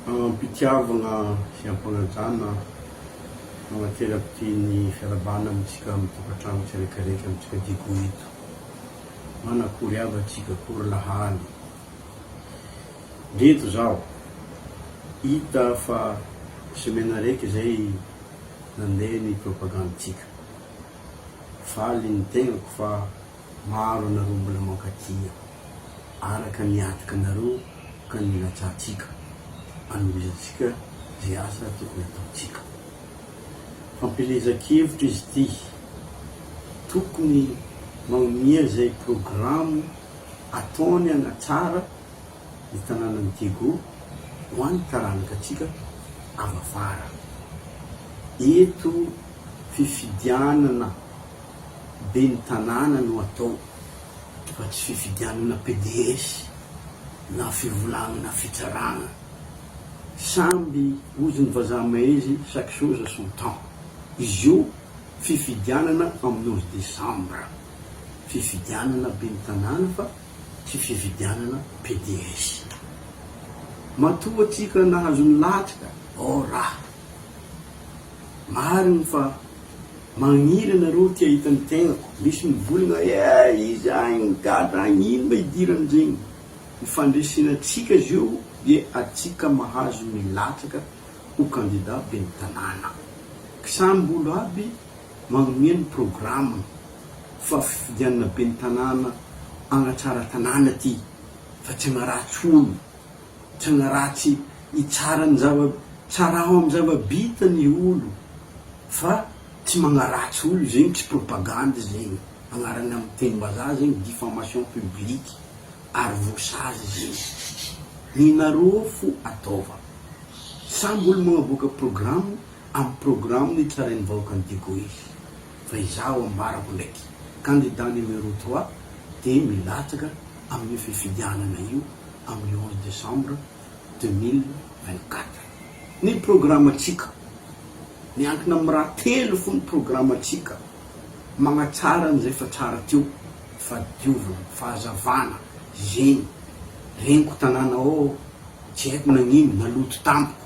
Amim-pitiavana sy am-panajana manaterako ity ny fiarahabana amintsika amin'ny tokantrano tsirekireky amintsika Digo ito. Manakory hava tsika akory lahali. Ndreto zaho, hita fa semaine araiky zay nandeha ny propagandy tsika. Faly ny tegnako fa. Maro anareo mbola mankatia araka ny hatoky anareo ka ny ilatsahantsika anomezantsika izay asa tokony ataontsika. Fampielezan-kevitra izy ity. Tokony magnomea izay programo ataony hanatsara ny tanànan'i Diego ho an'ny taranakantsika avy afara. Eto fifidianana. Ben'ny tanàna no atao fa tsy fifidianana PDS na fivolagnana fitsaragna. Samby ozon'ny vazaha maizy chaque chose à son temps. Izy io fifidianana amin'ny onze décembre. Fifidianana ben'ny tanàna fa tsy fifidianana PDS. Matoa tsika nahazo ny latsaka ô raha. Marigny fa. Magniry anareo ty ahita ny tegnako misy mivolagna eh iza agny migadra agny ino ma idirany regny ny fandresena tsika zio de atsika mahazo ny latsaka ho candidat beny tanàna ky samby olo aby magnomea ny programme fa fifidianana beny tanàna agnatsara tanàna ty fa tsy agnaratsy olo Tsy ny ratsy hitsara ny zava tsaraho amin'ny zava bita ny olo fa tsy magnaratsy olo zegny tsy propagande zegny agnarany amin'ny teny mbazaha zegny diffamation publique ary voasazy zegny ny nareo fo ataova samby olo magnaboaka programme amin'ny programme ny tsarain'ny vahoaka ny digoy fa izaho ambarako ndraiky candidat numero trois dia milatsaka amin'io fifidianana io amin'ny onze décembre deux mille vingt-quatre. Ny programantsika. Miankina amin'ny raha telo fony programantsika, magnatsara an'izay efa tsara teo, fahadiovana, fahazavana, zegny reniko tanàna ao, tsy haiko nagnino, naloto tampoko.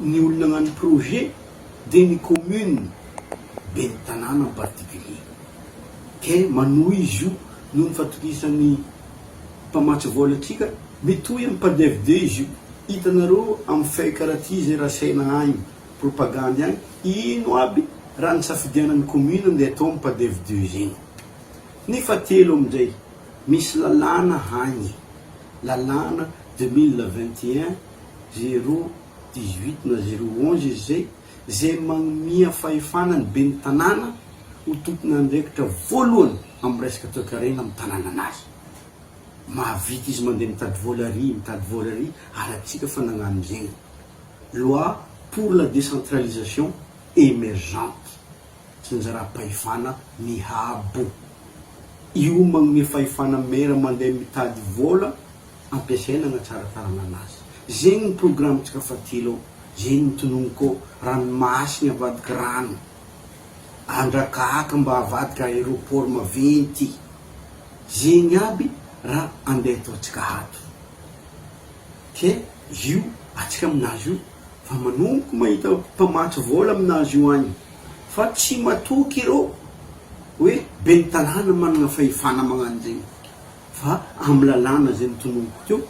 Ny olona agnano projet dia ny commune, ben'ny tanàna en particulier. Ke manohy izy io noho ny fatokisan'ny mpamatsy vola atsika, mitohy amin'ny padev de izy io. Hitanareo amin'ny feuille karaha ty izay rasaina agny, propagandy agny, ino aby raha nisafidianan'ny commune ndeha atao amin'ny padev de zegny. Ny fahatelo amindray, misy lalàna agny, lalàna deux mille vingt et un, zero dix-huit na zero onze izy zay, izay magnomia fahefana ny ben'ny tanàna ho tompon'andraikitra voalohany amin'ny resaka toekarena amin'ny tanànanazy. Mahavita izy mandeha mitady vola ary mitady vola ary alantsika fa nagnano zegny. Loi pour la décentralisation émergente, tsinjaram-pahefana mihabo. Io magnomia fahefana maire mandeha mitady vola ampiasaina na tsara faranana azy. Zegny ny programantsika fatilo ao, zegny ny tononiko ao, ranomasiny avadika rano, andrakahaka mba avadika aéroport maventy, zegny aby raha andeha ataontsika ato. Ke io atsika aminazy io fa manomboka mahita mpamatsy vola aminazy io agny fa tsy matoky ireo hoe ben'ny tanàna managna fahefana magnano zegny. Fa amin'ny lalàna izay notononiko teo,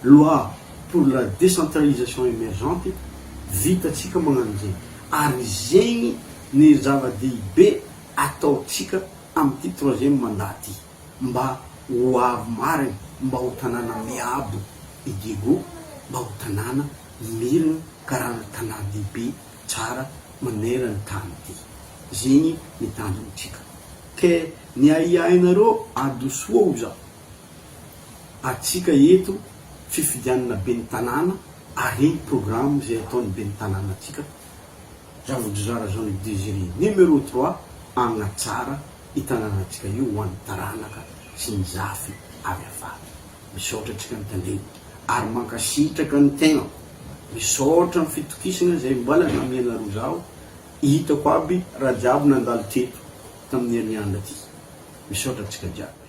Loi pour la décentralisation émergente, vitantsika magnano izay. Ary izegny ny zava-dehibe ataontsika amin'ity troisième mandat ity. Mba ho avy marigny, mba ho tanàna miabo i Diego, mba ho tanàna mirigny karana tanàn-dehibe tsara maneran-tany ity. Zegny ny tanjontsika. Te ny ahiahinareo adosoa oza atsika eto fifidianana ben'ny tanàna ary iny programme zay ataon'ny ben'ny tanàna atsika Ravodrizara Jean Luc Désiré numéro trois hagnatsara i tanànatsika io ho an'ny taranaka sy ny zafy avy afara. Misaotra atsika mitandregny ary mankasitraka ny tegnako. Misaotra ny fitokisana zay mbala namianareo zaho. Hitako aby raha jiaby nandalo teto tamin'ny herin'andro ty. Misaotra antsika jiaby.